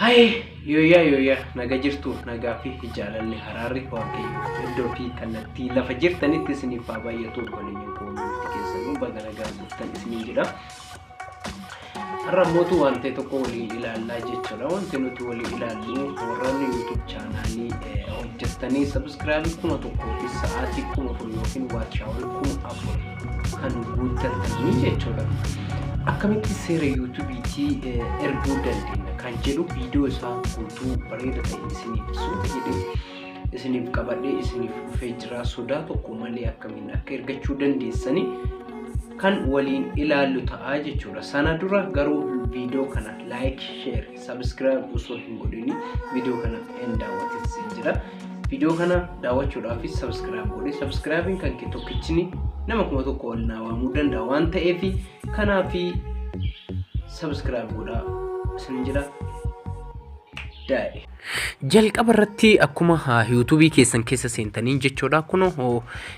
Haye yooyaa yooyaa naga jirtu nagaa fi jaalalli haraarri waaqayyo iddoo fi kallattii lafa jirtanitti isiniif haa baay'atu obboleeyyan koo hundumti keessanuu baga nagaa dhuftan isiniin jedha. Har'a mootu waan ta'e tokko waliin ilaallaa jechuudha. Wanti nuti waliin ilaallu warroonni YouTube chaanaalii hojjettanii sabiskiraabii kuma tokkoo fi sa'aatii kuma afur yookiin waatchaawul kuma afur kan guuttattanii jechuudha. Akkamitti seera yuutuubiitii erguu dandeenya kan jedhu viidiyoo isaa guutuu bareeda ta'e isiniif suuta jedhee isiniif qabadhee isiniif dhufee jira sodaa tokko malee akkamiin akka ergachuu dandeessanii kan waliin ilaallu ta'aa jechuudha. Sana dura garuu viidiyoo kana laayik sheer Subscribe osoo hin godhini video kana hin daawwatin siin jira. Video kana daawwachuudhaafis subscribe godhi. Subscribe'n kan kee tokkichini nama kuma tokko ol naa waamuu danda'a waan ta'eef kanaafi subscribe godhaa isin jira. Daa'e. Jalqaba irratti akkuma yuutuubii keessan keessa seentanii jechuudha kun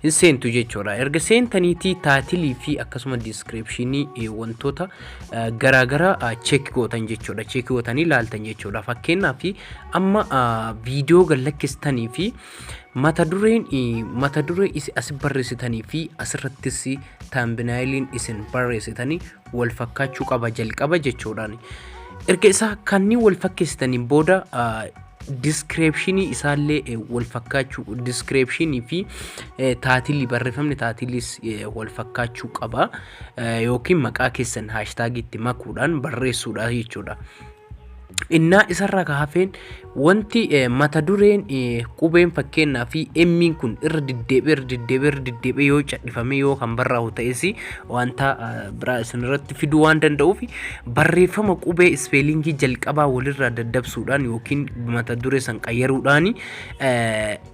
hin seentu jechuudha erga seentaniitii taatilii fi akkasuma diiskiripshinii wantoota garaa gara cheek gootan jechuudha. Cheek gootanii laaltan jechuudha. Fakkeenyaaf amma viidiyoo gad lakkistanii fi mata dureen mata duree isin as barreessitanii fi asirrattis taambinaayiliin isin barreessitanii wal fakkaachuu qaba jalqaba jechuudhaan. Erga isaa kanneen wal fakkeessitaniin booda diskireepshinii isaallee wal fakkaachuu diskireepshinii fi taatilii barreeffamni taatiliis wal fakkaachuu qaba. yookiin maqaa keessan haashtaagiitti makuudhaan barreessuudha jechuudha. Innaa isarraa ka hafeen wanti eh, mata dureen eh, qubeen fakkeenyaa fi emmiin kun irra deddeebi'ee irra deddeebi'ee irra deddeebi'ee yoo cadhifamee yoo kan barraa'u ta'es wanta eh, biraa isin irratti fiduu waan danda'uuf barreeffama qubee ispeelingii jalqabaa walirraa daddabsuudhaan yookiin mata duree san qayyaruudhaan eh,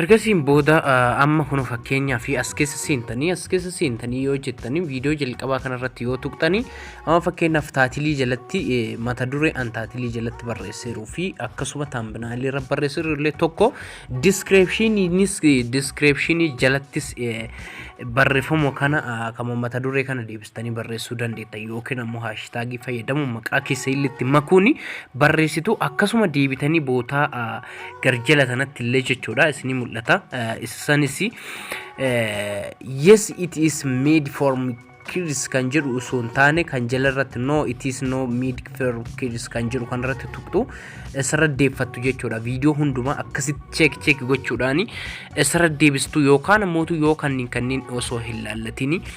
Ergasiin booda amma kun fakkeenyaa fi as keessa seentanii as keessa seentanii yoo jettanii viidiyoo jalqabaa kanarratti yoo tuqxanii amma fakkeenyaaf taatilii jalatti mata duree an taatilii jalatti barreesseeruu fi akkasuma taambinaalii irra barreesseeru illee tokko diskirepshiniinis diskirepshinii jalattis barreeffama kana akkama mata duree kana deebistanii barreessuu dandeetta yookiin ammoo haashitaagii fayyadamuun maqaa keessa illee itti makuuni barreessitu akkasuma deebitanii bootaa garjala kanatti illee jechuudha isinii mul'ata isanis yes it is made for kids kan jedhu osoo hin taane kan jala irratti no it is no made for kids kan jedhu kan irratti tuqxu isarra deeffattu jechuudha viidiyoo hundumaa akkasitti cheek cheek gochuudhaani isarra deebistu yookaan immoo yoo kanneen kanneen osoo hin laallatini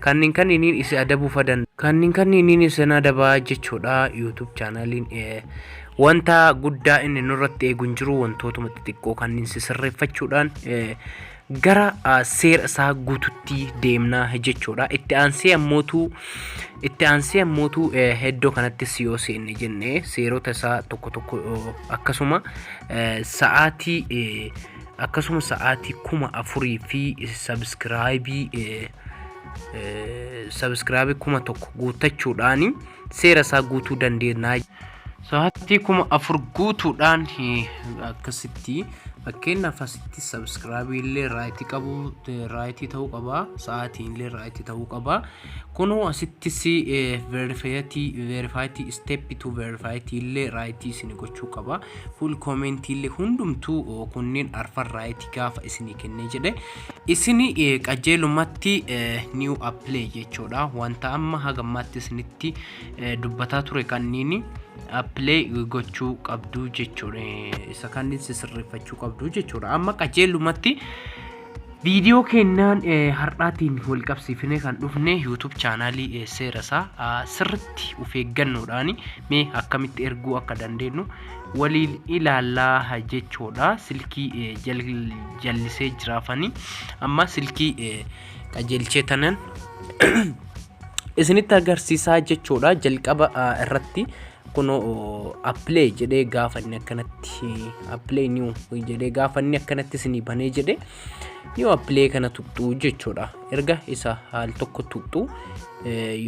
Kannin kanniiniin isi adabuu fa danda. Kannin kanniiniin isin adabaa jechuudha YouTube chaanaaliin wanta guddaa inni nurratti eegu hin jiru wantootuma xixiqqoo kanniin si sirreeffachuudhaan gara seera isaa guututti deemna jechuudha. Itti aansee ammootu itti aansee ammootu iddoo kanattis yoo seenne jenne seerota isaa tokko tokko akkasuma sa'aatii akkasuma sa'aatii kuma afurii fi sabskiraayibii sabskiraayibii kuma tokko guuttachuudhaan seera isaa guutuu dandeenya. Sa'aatii kuma afur guutuudhaan akkasitti fakkeenyaaf asitti sabskiraayibii illee raayitii qabu raayitii ta'uu qaba sa'aatiin illee raayitii ta'uu qaba kunuu asittis veerifaayitii veerifaayitii isteeppi tu veerifaayitii illee raayitii isin gochuu qaba. full commentiille hundumtu kunniin arfan right gaafa isinii kennee jedhe isini qajeelumatti new apply jechuudha wanta amma hagammaatti isinitti dubbataa ture kanniini apply gochuu qabdu jechuudha isa kanniin sisirreeffachuu qabdu jechuudha amma qajeelumatti Viidiyoo kennaan har'aatiin wal qabsiifnee kan dhufne YouTube chaanaalii seera isaa sirriitti of eeggannoodhaan mee akkamitti erguu akka dandeenyu waliin ilaallaa jechuudha. Silkii jallisee jiraafanii amma silkii qajeelchee tanan isinitti agarsiisaa jechuudha jalqaba irratti kuno appilay jedhee gaafanni akkanatti appilay new jedhee gaafanni akkanatti isinii banee jedhe new appilay kana tuqxuu jechuudha erga isa haal tokko tuqxuu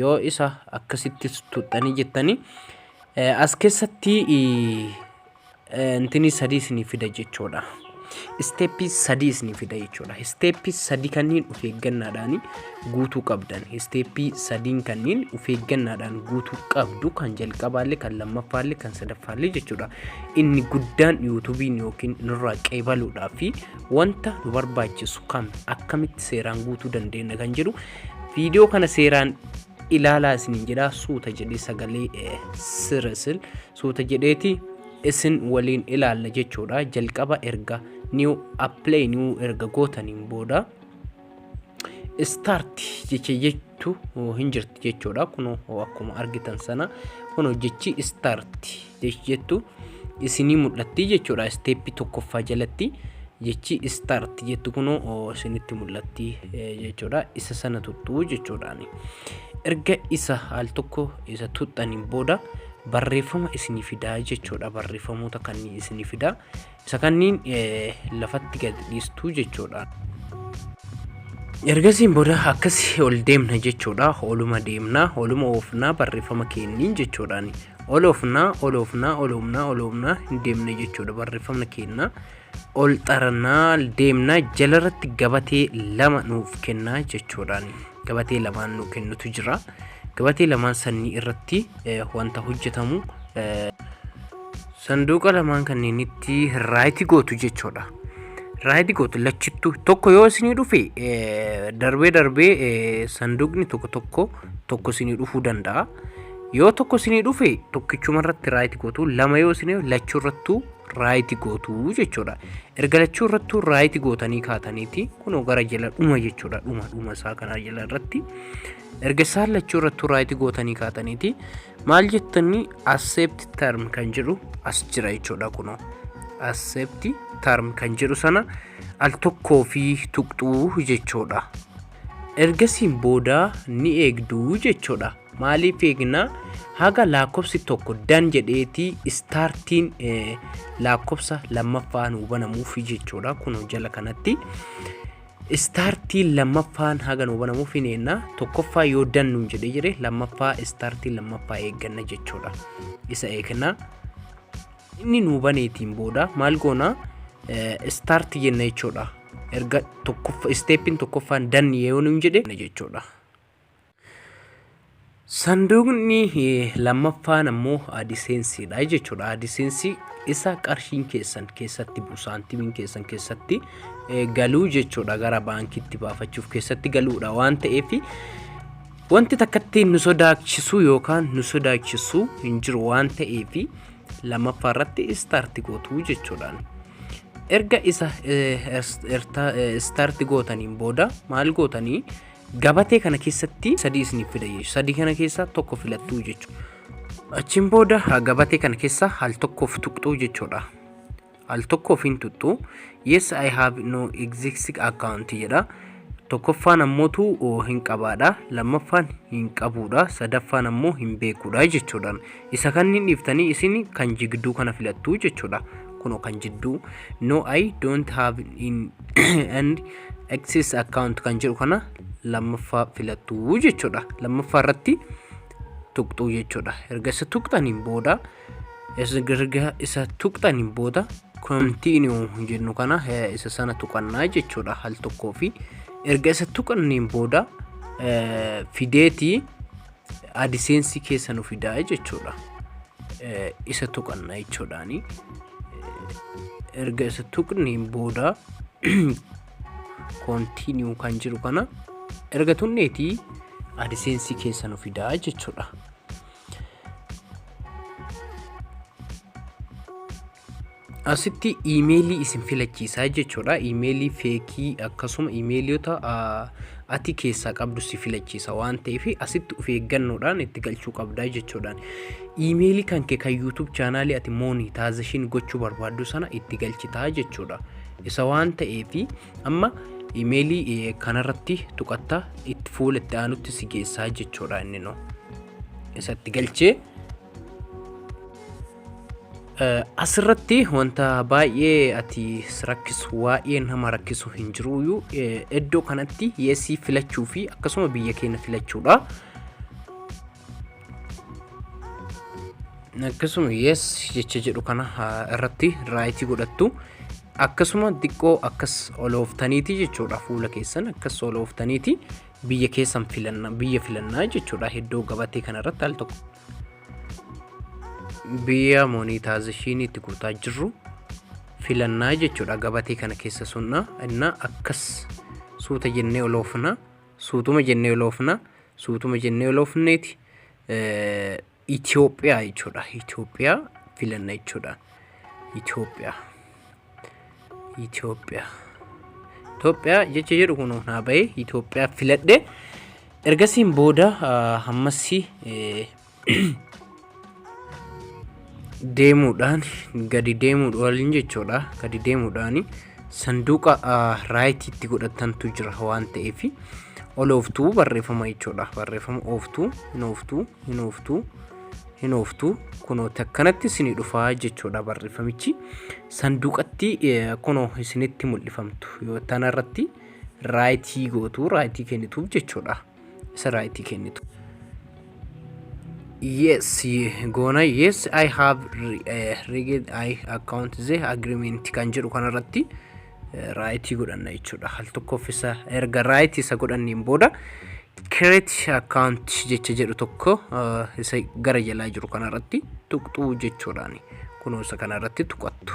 yoo isa akkasittis tuqxanii jettanii as keessatti Intinii sadii isinii fida jechoodha. Isteeppii sadii isinii fida jechoodha. Isteeppii sadii kanniin of eeggannaadhaan guutuu qabdan. Isteeppii sadiin kanniin of eeggannaadhaan guutuu qabdu kan jalqabaallee kan lammaffaallee kan sadaffaallee jechuudha. Inni guddaan yuutubiin yookiin nurraa qeebaluudhaa fi wanta nu barbaachisu kam akkamitti seeraan guutuu dandeenya kan jedhu viidiyoo kana seeraan ilaalaa isiniin jedhaa suuta jedhee sagalee sirrisin suuta jedheeti isin waliin ilaalla jechuudha jalqaba erga new apply new erga gootaniin booda start jecha jettu hin jirti jechuudha kun akkuma argitan sana kun jechi start jettu isinii mul'atti jechuudha step tokkoffaa jalatti jechi start jettu kun isinitti mul'atti jechuudha isa sana tuttuu jechuudhaani erga isa al tokko isa tuxxaniin booda barreeffama isinii fidaa jechuudha barreeffamoota kanneen isinii fidaa isa kanneen lafatti gad dhiistuu jechuudha. Ergasiin booda akkasii ol deemna jechuudha oluma deemna oluma oofnaa barreeffama keenniin jechuudhaan ol oofnaa ol oofnaa ol oofnaa ol oofnaa hin deemne jechuudha barreeffamna keenna ol xarnaa deemnaa jalarratti gabatee lama nuuf kennaa jechuudhaan gabatee lamaan nu kennutu jira gabatee lamaan sannii irratti wanta hojjetamu sanduuqa lamaan kanneenitti raayiti gootu jechuudha raayiti gootu lachittu tokko yoo isinii dhufe darbee darbee sanduuqni tokko tokko tokko isinii dhufuu danda'a yoo tokko isinii dhufe tokkichuma irratti raayiti gootu lama yoo isinii lachuu irrattuu raayiti gootu jechuudha. Erga lachuu irrattuu raayiti gootanii kaataniiti kunoo gara jala dhuma jechuudha dhuma dhuma isaa kanaa jala irratti. Erga isaan lachuu irrattuu raayiti gootanii kaataniiti maal jettanii accept term kan jedhu as jira jechuudha kunoo. Accept term kan jedhu sana al tokkoo fi tuqxuu jechuudha. Ergasiin booda ni eegdu jechuudha. Maaliif eegna? Haga laakkofsi tokko dan jedheeti istaartiin laakkofsa lammaffaa nuu banamuuf jechuudha. Kun jala kanatti istaartiin lammaffaan haga nuu banamuuf hin eegna. Tokkoffaa yoo dan nuun jedhee jire lammaffaa istaartiin lammaffaa eegganna jechuudha. Isa eegna. Inni nuu baneetiin booda maal goona start jenna jechuudha. Erga tokkoffa steeppiin tokkoffaan dan yoo nuun jedhe jechuudha. Sanduuqni eh, lammaffaan ammoo adiseensiidha jechuudha. Adiseensii isa qarshiin keessan keessatti bu'u saantimiin keessan keessatti eh, galuu jechuudha. Gara baankiitti baafachuuf keessatti galuudha waan ta'eef wanti takkatti nu sodaachisuu yookaan nu sodaachisu hin jiru waan ta'eef lammaffaa irratti istaarti gootu jechuudhaan. Erga isa istaarti gootaniin booda maal gootanii gabatee kana keessatti sadii isiniif fida jechuudha. Sadii kana keessaa tokko filattuu jechuudha. Achiin booda gabatee kana keessa al tokkoof tuqxuu jechuudha. Al tokkoof hin tuxxu. Yes I have no existing account jedha. Tokkoffaan ammootu hin qabaadha. Lammaffaan hin qabuudha. Sadaffaan ammoo hin beekuudha jechuudha. Isa kan hin dhiiftanii isin kan jigduu kana filattu jechuudha. Kunoo kan jidduu no I don't have in and access account kan jedhu kana lammaffaa filattu jechuudha. Lammaffaa irratti tuqxuu jechuudha. Erga isa tuqxaniin booda erga isa tuqxaniin booda continue jennu kana isa sana tuqannaa jechuudha hal tokkoo fi erga isa tuqanniin booda fideetii adiseensi keessa nu fidaa jechuudha isa tuqanna jechuudhaani erga isa tuqniin booda continue kan jiru kana erga tunneetii adiseensi keessa nu fidaa jechuudha asitti iimeelii isin filachiisaa jechuudha iimeelii feekii akkasuma iimeeliyoota ati keessaa qabdu si filachiisa waan ta'eef asitti of eeggannoodhaan itti galchuu qabdaa jechuudhaan iimeelii kan kee kan yuutuub chaanaalii ati moonitaazashiin gochuu barbaaddu sana itti galchitaa jechuudha isa waan ta'eef Amma imeelii kanarratti tuqatta itti fuula itti aanutti si geessaa jechuudha inni noo. Isatti galchee asirratti wanta baay'ee ati rakkisu waa'ee nama rakkisu hin jiruyyuu iddoo kanatti yeesii filachuu fi akkasuma biyya keenya filachuudha. akkasuma yes jecha jedhu kana ah, irratti raayitii godhattu akkasuma xiqqoo akkas olooftaniiti jechuudha fuula keessan akkas olooftaniiti biyya keessan filanna biyya filannaa jechuudha iddoo gabatee kana irratti al tokko biyya monitaazishiinii itti guutaa jirru filannaa jechuudha gabatee kana keessa sunna inna akkas suuta jennee oloofna Suutuma jennee loofna. Suutuma jennee loofneeti Itoophiyaa jechuudha. Itoophiyaa filanna jechuudha. Itoophiyaa. Itoophiyaa. Itoophiyaa jecha jedhu kun naa bahee Itoophiyaa filadhe. Ergasiin booda hammassi deemuudhaan gadi deemuudhaan waliin jechuudha gadi deemuudhaan sanduuqa raayitiitti godhatantu jira waan ta'eef ol ooftuu barreeffama jechuudha barreeffama ooftuu hin ooftuu hin ooftuu hin ooftuu kunoo takkanatti isinii dhufaa jechuudha barreeffamichi sanduuqatti kunoo isinitti mul'ifamtu yoo tanarratti raayitii gootu raayitii kennituuf jechuudha. isarraa itti kennitu. Yes, goona yes I have read I account the agreement kan jedhu kanarratti raayitii godhanna jechuudha. Al tokkoof isa erga raayitii isa godhanneen booda create account jecha jedhu tokko isa gara jalaa jiru kanarratti tuqxuu jechuudhaani. Kunuunsa kanarratti tuqattu.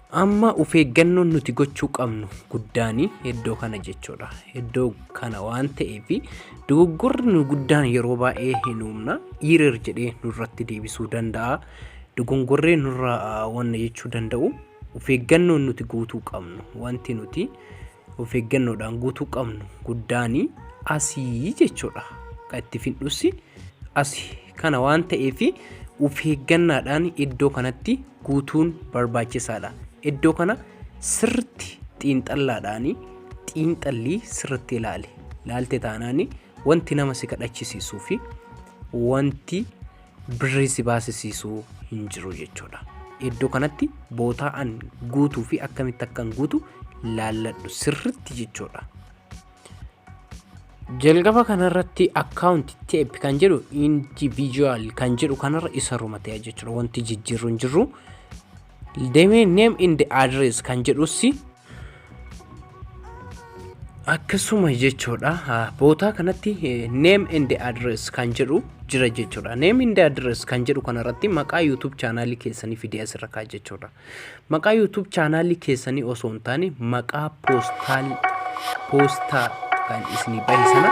Amma ufeeggannoon nuti gochuu qabnu guddaan iddoo kana jechuudha. Iddoo kana waan ta'eef dogoggorri nu guddaan yeroo baay'ee hin uumna. Iirer jedhee nurratti deebisuu danda'a. Dogongorree nurra wanna jechuu danda'u ufeeggannoon nuti guutuu qabnu wanti nuti of eeggannoodhaan guutuu qabnu guddaani asii jechuudha. Kan itti fidhussi asi kana waan ta'eef of eeggannaadhaan iddoo kanatti guutuun barbaachisaadha. Iddoo kana sirritti xiinxallaadhaan xiinxallii sirritti ilaali. Ilaalte taanaan wanti nama si kadhachisiisuu fi wanti birrii si baasisiisuu hin jiru jechuudha. Iddoo kanatti bootaa an guutuu fi akkamitti akkan guutu laalladhu sirritti jechuudha. Jalqaba kanarratti account tape kan jedhu individual kan jedhu kanarra isa rumatee jechuudha. Wanti jijjiirru hin jirru. Demee name and address kan jedhus akkasuma jechuudha bootaa kanatti name and address kan jedhu jira jechuudha name and address kan jedhu kanarratti maqaa youtube chaanaalii keessanii fidee asirra kaa jechuudha maqaa youtube chaanaalii keessanii osoo hin taane maqaa poostaal poostaa kan isinii bahe sana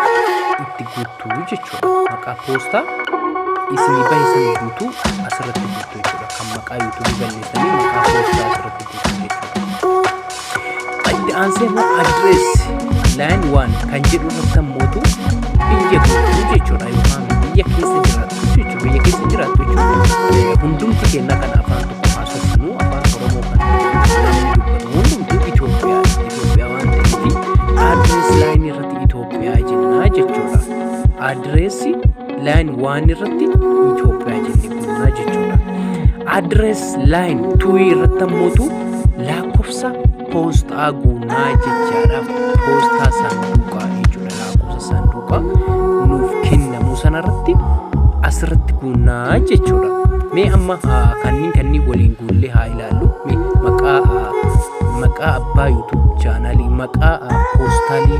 itti guutuu jechuudha maqaa poostaa isinii bahe sana guutuu asirratti guutuu jechuudha kan maqaa youtube balleessanii maqaa poostaa asirratti Itti aansee immoo adrees line one kan jedhu irratti ammoo biyya guutuu jechuudha yookaan biyya keessa jiraatu jechuudha biyya keessa jiraatu jechuudha hundumti keenya kan afaan tokko haasofnu afaan oromoo kan dubbatu hundumtuu Itoophiyaa Itoophiyaa waan ta'eef adrees line irratti Itoophiyaa jennaa jechuudha adreessi line waan irratti Itoophiyaa jennee kunnaa jechuudha. Address line tuwii irratti ammootu lakkoofsa poostaa guunnaa jechaadha. Poostaa saanduqaa jechuudha. Lakkoofsa saanduqaa nuuf kennamu sanarratti asirratti guunnaa jechuudha. Mee amma kanneen kanneen waliin guullee haa ilaallu. Mee maqaa maqaa abbaa YouTube chaanaalii maqaa poostaalii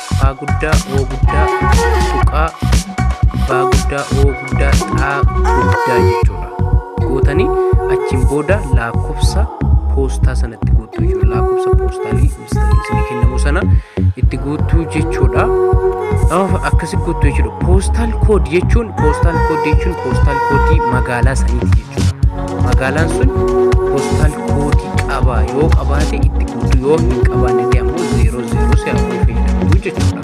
Faa guddaa oo guddaa tuqaa baa guddaa oo guddaa xaa guddaa jechuudha. Gootanii achiin booda lakkoofsa poostaa sanatti guutuu jechuudha. Lakkoofsa poostaa isinii kennamu sana itti guutuu jechuudha. Akkasi guutuu jechuudha. Poostaal kood jechuun poostaal kood jechuun poostaal koodii magaalaa saniiti jechuudha. Magaalaan sun poostaal koodii qaba yoo qabaate itti guutuu yoo hin qabaanne ammoo zeeroo Yeroo si afurii fayyadamtuu jechuudha.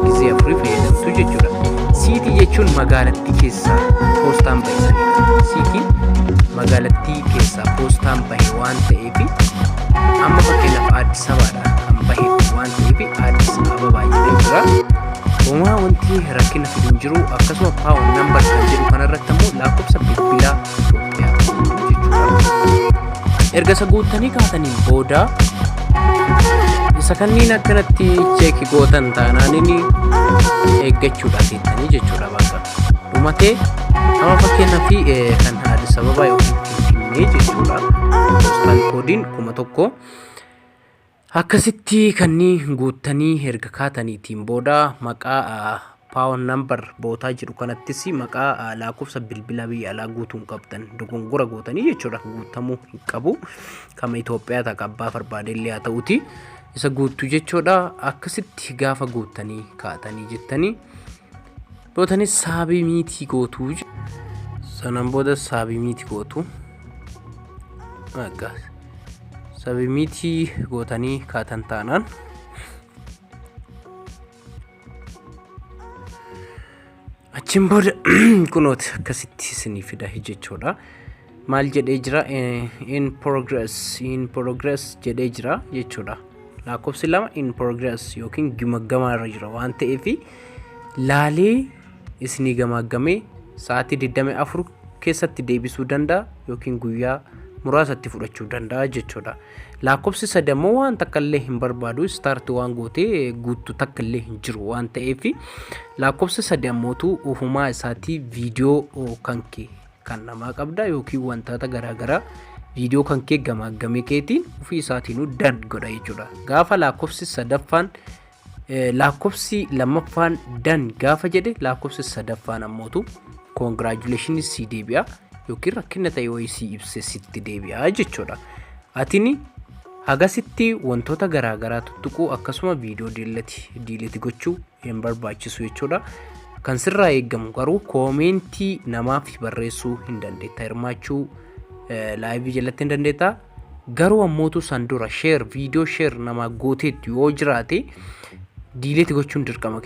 Gizee afurii fayyadamtuu jechuudha. Siitii jechuun magaalattii keessaa poostaan bahisanidha. Siitiin magaalattii keessaa poostaan bahe waan ta'eef amma fakkeenyaaf Addis Ababaadha kan bahe waan ta'eef Addis Ababaa jedhee jira. Uumaa wanti rakkina fidu hin jiru akkasuma paawun nambar kan jedhu kanarratti ammoo lakkoofsa bilbilaa Itoophiyaa jechuudha. Erga isa guuttanii kaataniin booda isa kanniin akkanatti cheeki gootan taanaanini eeggachuudha seettanii jechuudha bakka dhumatee amma fakkeenyaa fi kan haadha sababa yookiin finfinnee jechuudha poostaan koodiin kuma tokko akkasitti kannii guuttanii erga kaataniitiin booda maqaa Pound number bootaa jedhu kanattis maqaa laakofsa bilbilaa biyya alaa guutuu hin qabdan dogongora gootanii jechuudha guutamuu hin qabu kama Itoophiyaa ta'a abbaa barbaade illee haa ta'uti isa guuttu jechuudha akkasitti gaafa guuttanii kaatanii jettanii bootanis saabii miitii gootuu sanaan booda saabii miitii gootuu saabii miitii gootanii kaatan taanaan. Achiin booda kunooti akkasitti isinii fida jechuudha. Maal jedhee jira in progress in progress jedhee jira jechuudha. Lakkoofsi lama in progress yookiin gimaggamaa irra jira waan ta'eef laalee isinii gamaaggamee sa'aatii 24 keessatti deebisuu danda'a yookiin guyyaa muraasatti fudhachuu danda'a jechuudha. Laakkofsi sadi ammoo waan takka illee hin barbaadu istaarti waan gootee guuttu takka illee hin jiru waan ta'eef laakkofsi sadi ammootu ofumaa isaatii viidiyoo kan kee kan namaa qabda yookiin wantoota garaagaraa viidiyoo kan kee gamaaggamee keetiin ofii isaatiinuu dad godha jechuudha. Gaafa laakkofsi sadaffaan Laakkofsi lammaffaan dan gaafa jedhe laakkofsi sadaffaan ammootu congratulations sii deebi'a yookiin rakkina ta'e wayii sii ibse sitti deebi'a jechuudha. Atini hagasitti wantoota garaagaraa tuttuquu akkasuma viidiyoo diilati diiliti gochuu hin barbaachisu jechuudha. Kan sirraa eegamu garuu koomeentii namaaf barreessuu hin dandeetta hirmaachuu laayivii jalatti hin dandeetta. Garuu ammootu san dura share viidiyoo share namaa gooteettu yoo jiraate diileeti gochuun dirqama.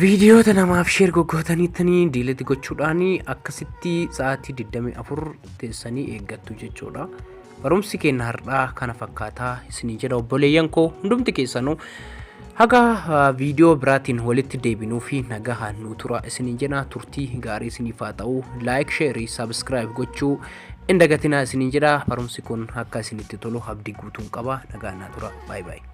Viidiyoota namaaf share goggootaniittanii diileeti gochuudhaan akkasitti sa'aatii 24 teessanii eeggattu jechuudha. Barumsi keenya har'aa kana fakkaataa isinii jedha obboleeyyan koo hundumti keessanuu haga viidiyoo biraatiin walitti deebinuu fi nagahaan nu turaa isinii jedha turtii gaarii isiniif haa ta'u laayik sheerii sabiskiraayib gochuu Hin dagatinaa isiniin jedha barumsi kun akka isinitti tolu abdii guutuun qaba nagaan naa tura baay baay.